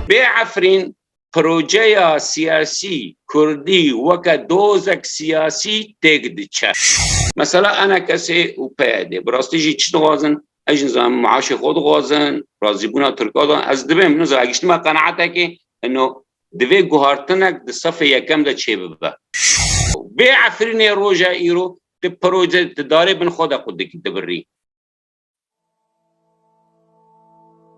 Bê Efrîn projeya siyasî Kurdî weke dozek siyasî têk diçe. Mesela ena kesê û PYD bi rastî jî çi dixwazin? Ez nizan maaşê xwe dixwazin, razîbûna Tirka da ez dibim, nizan ev giştime qenaetekê ino divê guhartinek di sefê yekem de çêbibe. Vê Efrînê roja îro tu proje di darê bin xwe de xwe dibirî.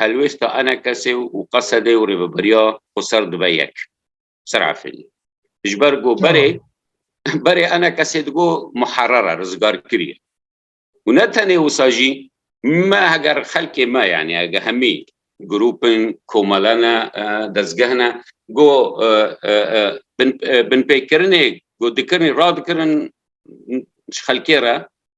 helwêsta enekesê û qesedê û rêveberiya xwe ser dibe yek. Ser efênî. Ji ber ku berê berê enekesê digo muherer e, rizgarkirî ye. Û ne tenê wisa jî me heger xelkê me yanî hege hemî grûpin, komele ne, dezgeh ne go binpêkirinê ku dikirinê radikirin ji xelkê re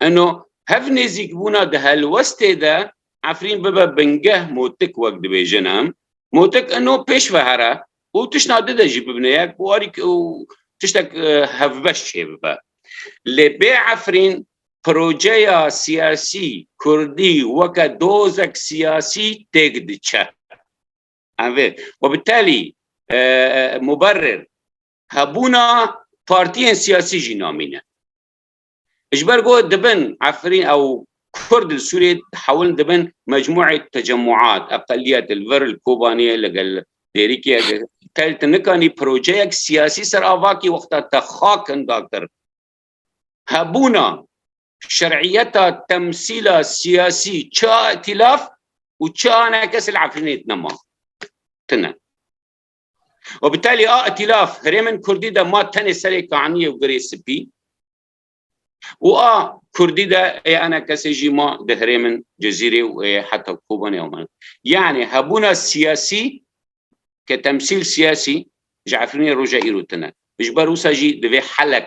Eno hev nêzîkbûna di helwestê de Efrîn bibe bingeh Motik wek dibêjin em. Motik eno pêş ve here û tişna di de jî bibine yek û arî û tiştek hevbeş çêbibe. Lê bê Efrîn projeya siyasî Kurdî weke dozek siyasî têk diçe. Em vê we bi telî muberir hebûna partiyên siyasî jî namîne. Ji ber ku dibin Efrîn ew Kurd li Sûriyê hewlin dibin mecmûê tecemûat, eqeliyet li vir li Kobaniyê ligel Dêrikiyê de tel te nikanî projeyek siyasî ser avakî wexta te xakinda kir. Hebûna şer'iyeta temsîla siyasî çi îtîlaf û çi anekes li Efrînê tine ma. Tine. Û bi telî a îtîlaf hirê min Kurdî de ma tenê serê kaniyê û girê sipî û a Kurdî de ê ene kesê jî ma di hirê min Cezîrê û ê heta Kobanê ew min. Yanî hebûna siyasî ke temsîl siyasî ji Efrînê roja îro tune. Ji ber wisa jî divê helek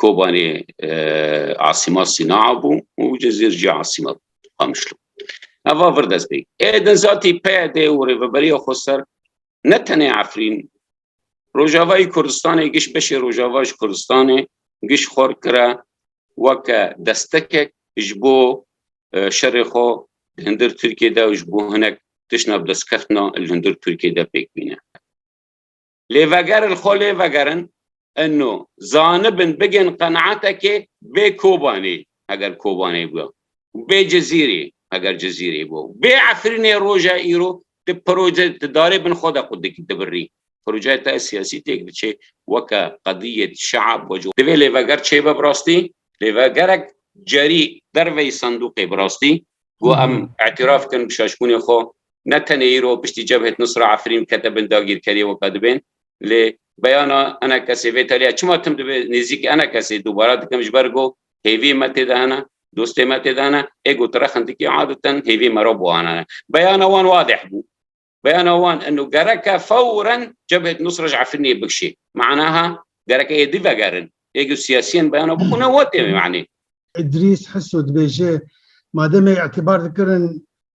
Kobanê asîma Sînaa bû û Cezîr jî asîma bû Qamişlo. Eva vir dest pê. Ê din zatî PYD û Rêveberiya Xweser ne tenê Efrîn Rojavayî Kurdistanê giş beşê Rojava ji Kurdistanê giş xwar kira weke destekek ji bo şerê xwe li hundir Tirkiyê de û ji bo hinek tişna bi destkeftina li hundir Tirkiyê de pêk bîne. Lêveger li xwe lê vegerin ino zanibin bigên qenaetekê bê Kobanê heger Kobanê bûya û bê Cizîrê heger Cizîrê bûya û bê Efrînê roja îro ti proje ti darê bin xwe de xwe dibirrî. Projeyê te siyasî têk diçê weke qedîyet şeab we ji Divê lêveger çê be bi rastî? Lêvegerek cerî derveyî sendûqê bi rastî ku em îtîraf bikin bi şaşbûnê xwe ne tenê îro piştî Cebhet Nusra Efrîn kete bin dagîrkeriyê weka dibên lê beyana enekesê vê taliya çima tim dibe nêzîk enekesê dubara dikim ji ber ku hêvî me tê de hene dostê me tê de hene ê ku tire xindikî adeten hêvî me re buanane beyana wan wadeh bû beyana wan inu gereke fewren Cebhet Nusra ji Efrînê bikişê manaha gereke ê divegerin ê ku siyasiyên beyana bikune wetê manî Îdrîs Hiso dibêje mademê îtibar dikirin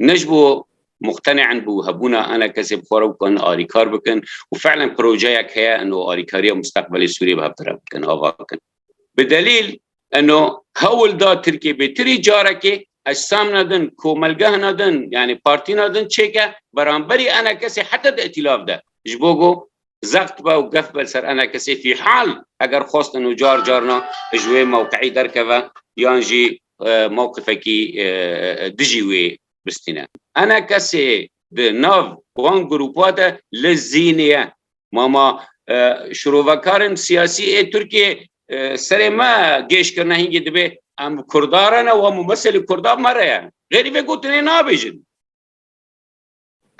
ne ji bo muqtene'in bi hebûna ana kesê bi xwe re bikarin alîkar bikin û fe'len projeyek heye eno alîkariya musteqbelê Sûriyê bi hevdire bikin ava bikin. Bi delîl eno hewl da Tirkiyê bê tirî carekê ecsamna din, komelgehna din yanî partîna din çêke beramberî ana kesê heta di îtîlaf de ji bo ku zext be û gef be li ser ene kesê fîhal eger xwestin û car carna ji wê mewqeî derkeve yan jî mewqifekî dijî wê bistîne. Ene kesê di nav wan grûpa de li zînê ye. Mama şirovekarên siyasî ê Tirkiyeyê serê me gêj kirine hingî dibê em kurda re ne wan mû meselê kurdan me re ye. Xêrî vê gotinê nabêjin.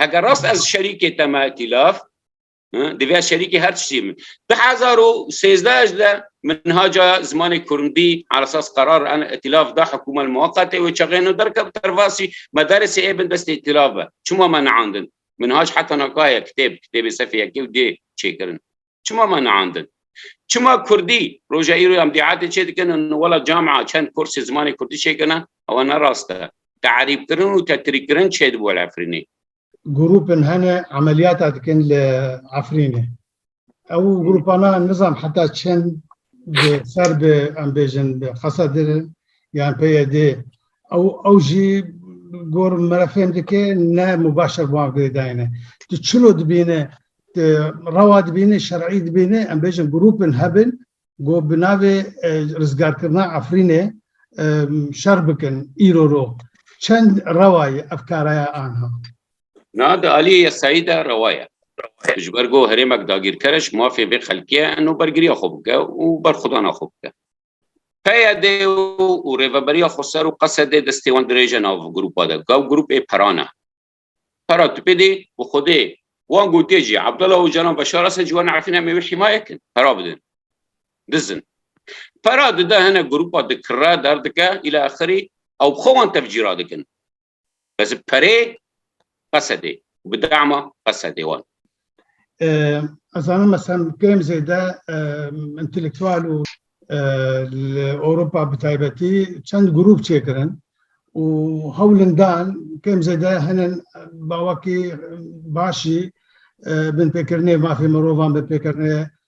Eger rast ez şerîkê te me îtîlaf divya şerîkê her tiştî min. Di hezar û sêzdeh ez de minhaca zimanê kurndî ala esas qerar an îtîlaf da hikûmet muweqetê wê çaxêno derkeb tervasî me deresê ê bin destê îtîlaf be. Çima me neandin? Minhac heta naka ye kitêb, kitêbê sefê yekê û dê çêkirin. Çima me neandin? Çima Kurdî roja îro em dîatê çê dikin û wela camia çend kursê zimanê Kurdî çêkirine ewa ne rast e. Te'erîbkirin û tetrîkirin çêdibû li Efrînê. Grûpên hene emeliyata dikin li Efrînê. Ew grûpana nizam heta çend bi ser bi em bêjin bi xesa dirin yan PYD ew ew jî gor merefên dike ne mubaşer wan girêdayene. Tu çilo dibîne Rewa dibîne, şer'î dibîne, em bêjin grûpên hebin ku bi navê rizgarkirina Efrînê şer bikin îro ro. Çend rewa ye ev karaya anha? Na di aliyê yasayî de rewa ye. Ji ber ku herêmek dagîrker e ji mafê vê xelkê ye eno bergiriya xwe bike û berxwedana xwe bike. PYD û rêveberiya Xweser û Qesed ê destê wan dirêje nav grûpa de. Gav grûp ê peran e. Para tüpê dê bi xwedê wan gotê jî Abdullah Ocalan Beşar Esed ji wan Efrîn em ê wî hîmaye kin. Para bidin. Dizin. Para dide hene grupa dikire derdike îla axirî ew bi xwe wan tevcî radikin. Bes bi perê qesedê û bi dema qesedê wan. Ez zanim mesela kêm zêde intelektual û li Ewropa bi taybetî çend grûp çêkirin û hewlin dan kêm zêde hinin bawekî baş jî binpêkirinê mafê mirovan, binpêkirinê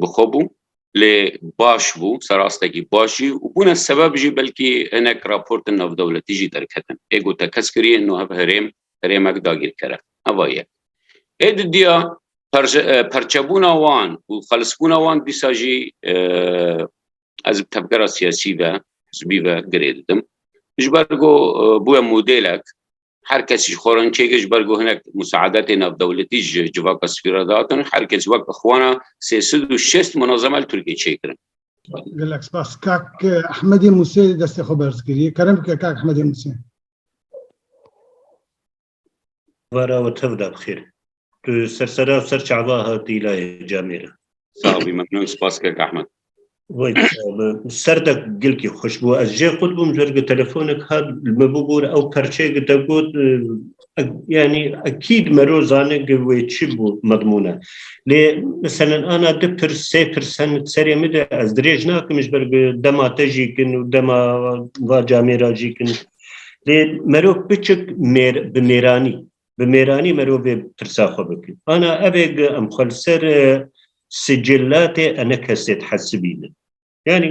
bi xwe bû lê baş bû serastekî baş jî û bûne sebeb jî belkî hinek raportin navdewletî jî derketin ê ku tekez kiriye no hev herêm herêmek dagîrkere heva ye ê di diya perçebûna wan û xelisbûna wan dîsa jî ez bi tevgera siyasî ve hizbî ve girê didim ji ber ku bûye modêlek Her kes ji xwe re çêkir ji ber ku hinek musaadetê navdewletî ji civaka spî re datin. Her kes wek ixwana sê sed û şêst munazeme li Tirkiyê çêkirin. Gelek spas. Kak Ehmedê Musê destê xwe berz kiriye. Kerem bike kak Ehmedê Musê. Vera û tevda bi xêr. Tu ser sera û ser çava hatî layê camê re. Sağ bî memnûn spas kek Ahmed. Vay serdek gilkî xweş bû ez jê xwe dibûm jer gi telefonek hat li me bûbûr ew perçeyê gi te got yanî ekîd mero zane gi wê çi bû medmûne lê meselen ana di pir sê pir sen serê min de ez dirêj nakim ji ber dema te jî kin û dema va camêra jî kin lê mero biçik mêr bi mêranî bi mêranî mirovê bi tirsa xwe bikir. Ana ev ê gi em xwe li ser sicilatê ene kesê dihesibînin. Yanî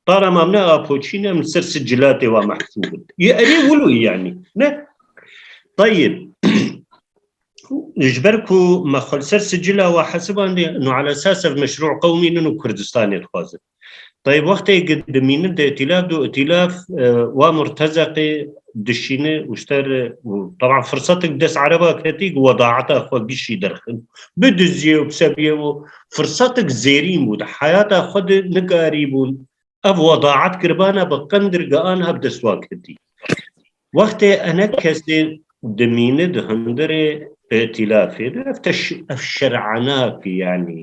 para mam ne apoçîn em li ser sicilatê wa mehsûbin. Yê erê wilo yanî ne. Tayib. Ji ber ku me xwe li ser sicila wa hesibandê no ala esas ev meşrû qewmînin û Kurdistanê dixwazin. Tayê wextê ki dimînin di îtîlaf de û îtîlaf wa murtezeqê dişîne û ji te re û teban firsetek bi dest ereba ketî ku wedaeta xwe bişî derxin. Bidizîye û bisebîye û firsetek zêrîn bû. Di heyata xwe de nikarîbûn ev wedaet kiribana bi qindirga aniha bi dest wan ketî. Wextê enek kesê dimîne di hundirê îtîlafê de ev şer'enak e yanî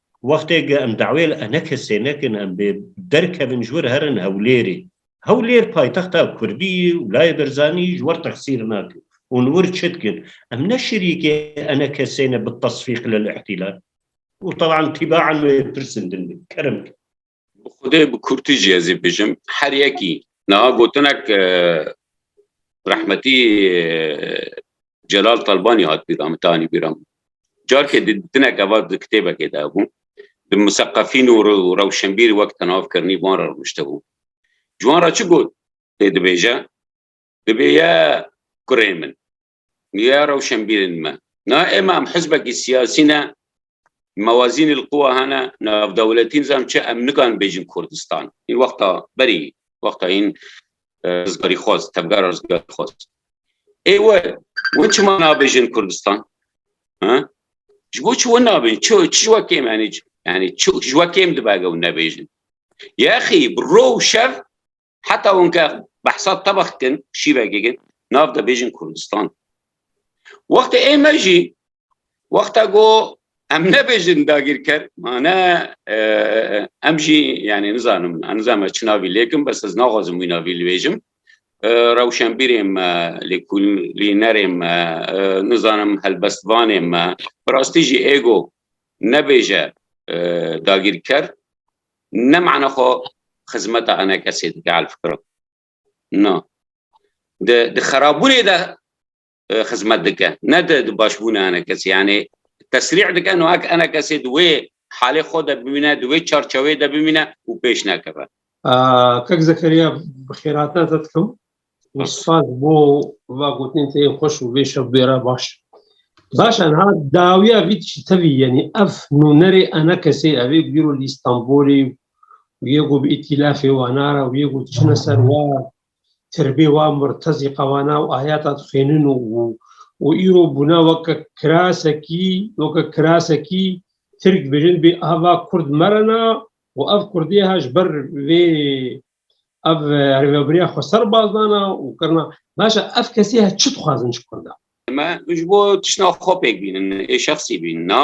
Wextê ke em dawê li ene kesê nekin em bê derkevin ji wir herin Hewlêrê. Hewlêr paytexta Kurdî ye û layê Berzanî ji wir texsîr nake û li wir çi dikin? Em ne şerîkê ene kesê ne bi tesfîq lil îhtilal û taban tîbaen wê pirsin din be. Kerem ke. Bi xudê bi kurtî jî ez ê bijim. Her yekî niha gotinek rehmetî Celal Talbanî hat bîra min tanî bîra min. Carkê di dinek eva di kitêbekê de hebû. Di museqefîn û rewşenbîr wek tenav kirnî wan re rûniştibû. Ji wan re çi got tê dibêje? Dibêje kurê min. Ya rewşenbîrên me. Na êma em hizbekî siyasî ne, mewazînê li quwa hene, navdewletî nizam çi em nikan bêjin Kurdistan. Hîn wexta berî, wexta hîn rizgarîxwaz, tevgera rizgarîxwaz. Ê we, wan çima nabêjin Kurdistan? Ha? Ji bo çi wan nabêjin? Çi, çi ji we kêm henî? Yani çi ji we kêm dibe eger wan nebêjin? Yaxî bi ro û şev Heta winke behsa tebex kin şîvegê kin nav de bêjin Kurdistan. Wextê ê me jî wexta go em nebêjin dagîrker mane em jî yani nizanim nizame çi navî lêkim bes ez naxwazim wî navî libêjim rewşenbîrê me lêkulînerê me nizanim helbestvanê me bi rastî jî êgo nebêje dagîrker Ne mana xwe xizmeta ene kesê dike elfkiro. Na. Di, di xerabûnê de e, xizmet dike. Ne di, di başbûnê ene kesê. Yani tesrîh dike no ek ene kesê di wê halê xwe de bimîne, di wê çarçewê de bimîne û pêş nekeve. Kak Zekeriya bi xêrate te dikim. Spas bo va gotinên te yên xweş û vê şev bêra baş. Baş e niha dawiya vî tiştî tevî yenî ev nûnerê ena kesê ev ê bîro li Îstanbulê û yê ku bi îtîlafê wana re û yê ku çine ser wa tirbê wa murtezîqa wana û ayata dixwînin û û îro bûna weke kirasekî weke kirasekî Tirk dibêjin bê ava Kurd merena û ev Kurdê ha ji ber vê Ev rêveberiya xweser baz dana û kirina başa ev kesî he çi dixwazin ji Kurda? Me ji bo tişna xwe pêk bînin ê şexsî bîn na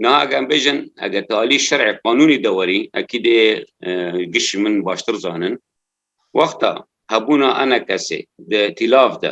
na egem bêjin ege tu alî şerê qanûnî de werî ekî dê giş min baştir zanin. Wexta hebûna ene kesê di tîlav de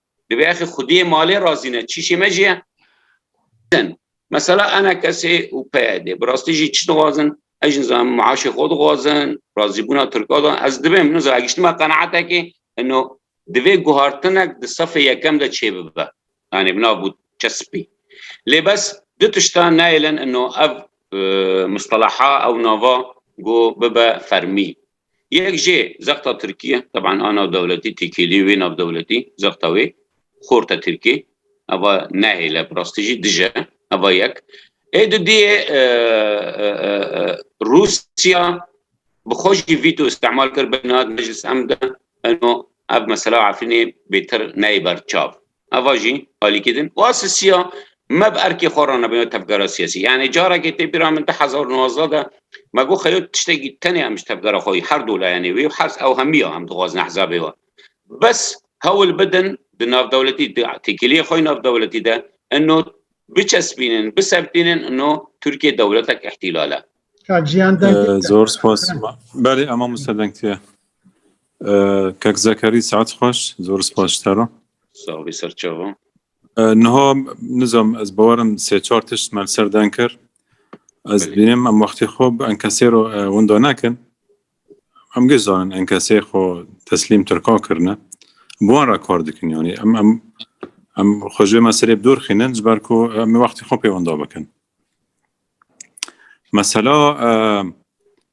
Divê axê xwediyê malê razî ne, çîşê me jî ye. Din, mesela NKS û PYD bi rastî jî çi dixwazin? Ez jî nizanim maaşê xwe dixwazin, razîbûna Tirkan de ez dibêm, nizanim giştime qenaetekê ino divê guhartinek di sefê yekem de çêbibe. Yanî bi nav bû çespî. Lê bes du tiştan nayêlin ino ev mustelaha ew nava ku bibe fermî. Yek jê zexta Tirkî ye. Teban a navdewletî têkêlî wê navdewletî zexta wê xort e Tirkî. Eva nehêle bi rastî jî dij e. Eva yek. Ê di diyê Rûsya bi xwe jî vîto îstemal kir bêne hat meclis em de eno ev mesela Efrînê bêtir neyê ber çav. Eva jî alîkî din û a sisiya me bi erkê xwe re nebin tevgera siyasî. Yanî carekê tê bîra min du hezar û nwazdeh de me got xeyo tiştekî tenê em ji tevgera xwe her du layanê wê û herz ew hemiya em dixwazin ehzabê we bes hewl bidin di navdewletî di têkiliyê xwe navdewletî de ino biçespînin, bisebtînin ino Tirkiye dewletek îhtîlal e. Kak Jiyan Dengê. Zor spas. Belê ema Musa Dengtiye. Kak Zekerî saet xweş, zor spas ji te re. Sağ bî serçava. Niha nizam ez bawerim sê çar tişt me ser deng kir. Ez Belê. bînim em wextê xwe bi enkesê re e, winda nekin. Em giş zanin enkesê xwe teslîm Tirka kirine. Bi wan re kar dikin yanî. Em em em xwe ji wê meselê bi dûr xînin ji ber ku em ê wextê xwe pê winda bikin. Mesela e,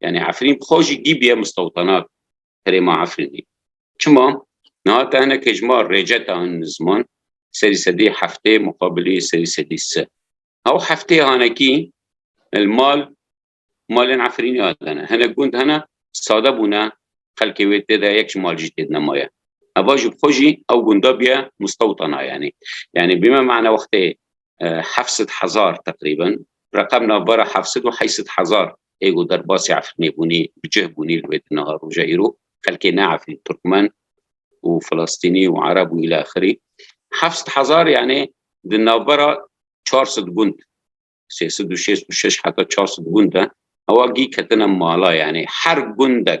Yani Efrîn bi xwe jî dîbiye mistewtanak herêma Efrînê. Çima? Niha te hinek hejma rêceta hin ziman serî sedî heftê muqabilî serî sedî se. Ew heftê hanekî li mal malên Efrînê hatene. Hinek gund hene sade bûne xelkê wê tê de yek ji mal jî tê de nemaye. Heva ji bi xwe jî ew gunda biye mistewtana yanî. Yanî bîme mana wextê heft sed hezar teqrîben reqem navbara heft sed û heyt sed hezar ê ku derbasî Efrînê bûnî bi cih bûnî li wê di niha roja îro xelkê ne Efrîn Tirkmen û Filistînî û Ereb û îla xirî heft sed hezar yanê di navbara çar sed gund sê sed û şêst û şeş heta çar sed gund e ewa gî ketina mala yanê her gundek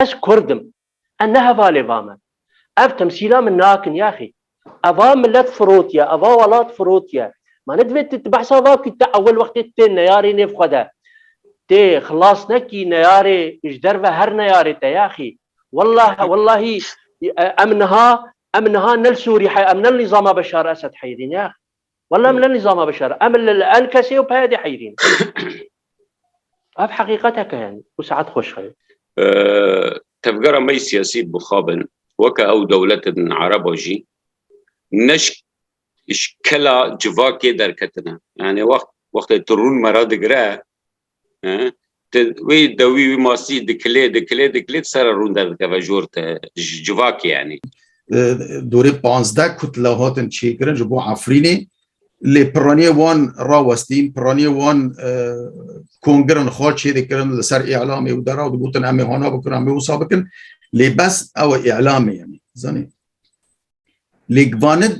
Ez kurd im. Ez ne hevalê va me. Ev temsîla min nakin yaxî. Eva milet firotiye, eva welat firotiye. Ma ne divê tu behsa va bikî tu ewil wextê tu tê neyarê nêv xwe de tê xilas nekî neyarê ji derve her neyarê te yaxî. Wellah wellahî em niha em niha ne li Sûrî em ne li nîzama Beşar Esed heyrîn yaxî. Wela min ne nîzama bişere. Em li li en kesê û peyedê heyrîn. Ev heqîqetek e yanî. Û saet xweş xeyr. Tevgera me yê siyasî bixabin. Weke ew dewletin ereba jî ne ji ji kela civakê derketine. Yanî wext wextê tu rûn me re digire Wî dewî wî masî dikilê dikilê dikilê ser rûn derdikeve jor te civakê yanî. Dorê panzde kutla hatin çêkirin ji bo Efrînê lê piraniyê wan rawestîn piraniyê wan kongirin xwe çêdikirin li ser îlamê û dera digotin em ê hana bikin em ê wisa bikin lê bes ew e îlamê yanî zanî. Lê vanid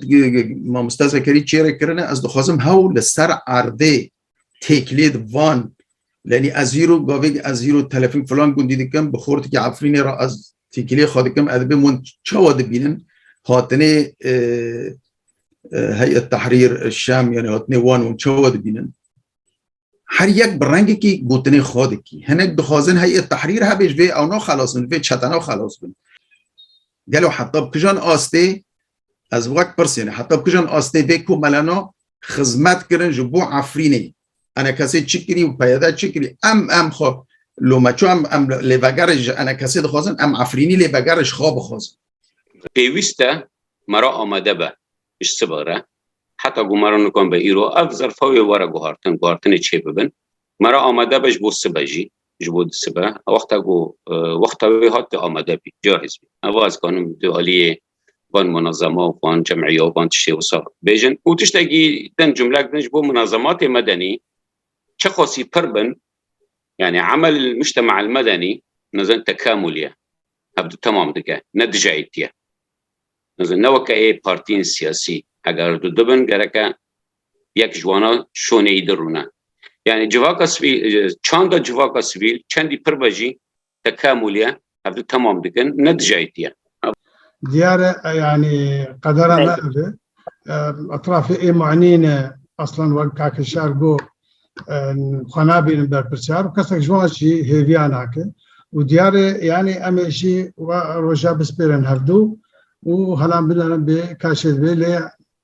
mamoste zekerî çêrê kirine ez dixwazim hewl li ser erdê têkilê di van lenî ez hîro gavêk ez hîro telefîn filan gundî dikim bi xortikî efrînê re ez têkilê xwe dikim ez bim hûn çawa dibînin hatinê heyet tehrîr şem yani hatinê wan hûn çawa dibînin her yek bi rengekî gotinê xwe dikî hinek dixwazin heyet tehrîr hebê ji vê ewna xelas bin vê çetena xelas bin gelo heta bi kijan astê ez wek pirsêne heta bi kijan astê vê komelena xizmet kirin ji bo Efrînê. Enekesê çi kirî û peyede çi kirî? Em em xwe lo me çi em em lê vegerê ji Enekesê dixwazin, em Efrînî lê vegerê ji xwe bixwazin. Pêwîst e me re amade be ji sibeh re heta ku me re nikan be îro ev zerfa wê were guhartin, guhartinê çêbibin. Me re amade be ji bo sibeh jî. ji bo disibe wexta ku wexta wê hat tu amade bî cahiz bî heva ez kanim tu aliyê van munazama û van cemîya û van tiştê wisa bêjin û tiştekî din cumlek din ji bo munazamatê medenî çi xwesî pir bin yani emel mujtema el medenî nezin tekamûliye hev di temam dike ne dijayîtiye nezin ne weke ê partiyên siyasî eger tu dibin gereke yek ji wana şonê îdir rûne. Yanî civaka sivîl çanda civaka sivîl çendî pir be jî tekamûl ye hev du temam dikin ne dijayîtî ye. Diyar e yanî qedera me ev e. Etrafê ê manî ne aslan wek Kaki Şar got xwe nabînin berpirsiyar û kesek ji wan jî hêviya nake û diyar e yanî em ê jî we roja bispêrin hev du û helan binerin bê kaşê divê lê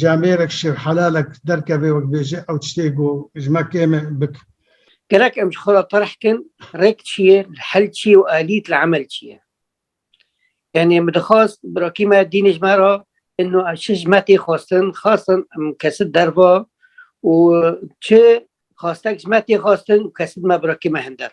camêrek şêr helalek derkeve wek bêje ew tiştê ku ji me kêm e bik. Gelek em ji xwe re terh kin rêk çi ye, hel çi ye û alît li emel çi ye. Yanî min dixwast birakî me dînê ji me re ino em çi ji me tê xwestin, xastin em kesit derva û çi xastek ji me tê xastin û kesit me birakî me hin der.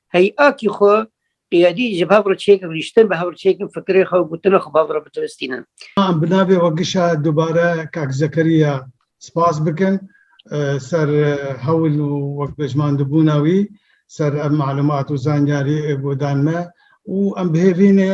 Hey akî xwe qiyadî ji hev re çêkin rîştin, bi hev re çêkin fikirê xwe û gotina xwe bi hev re bitilistînin. Em bi navê OGŞ a dubare kak Zekeriya spas bikin ser hewl û wekpejmandibûna wî ser ev malumat û zanyarî ê guhdan me û em bihêvînê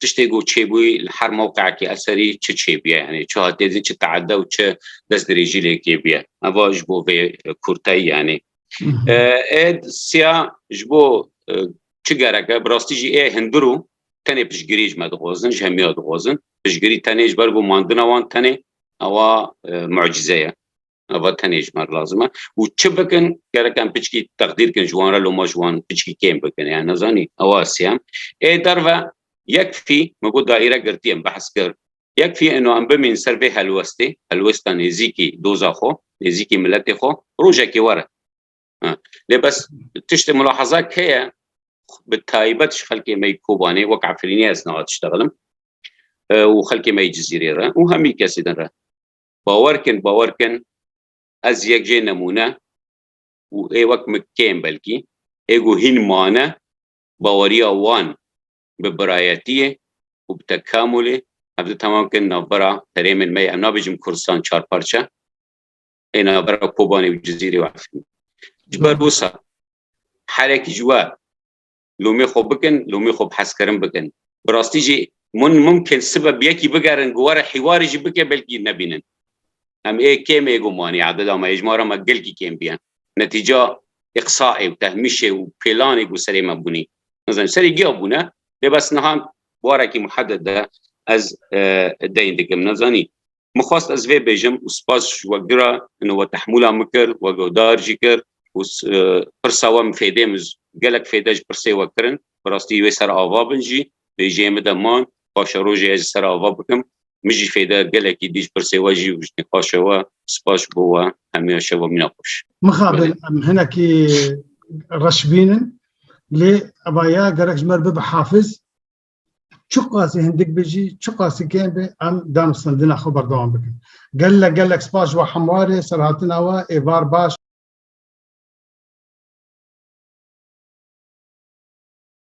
tiştê ku çêbûyî li her mewqeekî eserî çi çêbûye yani çi hatiye dîtin çi teeda û çi destdirêjî lê kêbûye heva ji bo vê kurteyî yani êd siya ji bo çi gereke bi rastî jî ê hindir û tenê piştgirî ji me dixwazin ji hemiya dixwazin piştgirî tenê ji ber ku mandina wan tenê ewa mucîze ye Ava tenê ji me re lazim e û çi bikin gerek em piçkî teqdîr kin ji wan re loma ji wan piçkî kêm bikin ya nezanî ewa siyem ê derve yek fî min got daîre girtiye min behs kir yek fî êno em bimîn ser vê helwestê helwesta nêzîkî doza xwe nêzîkî miletê xwe rojekê were lê bes tiştê mulaheza keye bi taybet ji xelkê me Kobanê wek Efrînê ez niha tiştexilim û xelkê me Cizîrê re û hemî kesê din re Bawer kin bawer kin ez yek jê nemûne û ê wek min kêm belkî ê ku hîn mane baweriya wan bi birayetiyê û bi tekamulê ev di temam kin navbera herêmên me ye em nabêjim Kurdistan çar parçe ê navbera Kobanê û Cizîrê û Efrînê ji ber wisa herekî ji we lomê xwe bikin, lomê xwe bi hezkirin bikin. Bi rastî jî min mimkin sibe bi yekî bigerin ku were hîwarê jî bike belkî nebînin. Em ê kêm ê gumanî adeda me hejmara me gelkî kêm biye. Netîca ê qisa ê û tehmîşê û pêlanê ku serê me bûnî. Nizanim serê giya bûne lê bes niha bi warekî muheded de ez deyn dikim. Nezanî Min xwest ez vê bêjim û spas ji we gira hino we tehmûla min kir, we guhdar jî kir û pirsa we min fêdê min gelek fêde ji pirsê we kirin. Bi rastî wê ser ava bin jî bêjiyê min de man. Paşa rojê ez ji ser ava bikim. Min jî fêde gelekî dî ji pirsê we jî û ji nîqaşa we. Spas ji bo we. Hemûya şeva mîna xweş. Mixabin em hinekî reşbîn in lê eva ya gerek ji me re bibe hafiz. çiqasî hindik bi jî çiqasî kêm bi em danûstandina xwe berdewam bikin. Gelek gelek spas ji we hemwarê serhatina we êvar baş.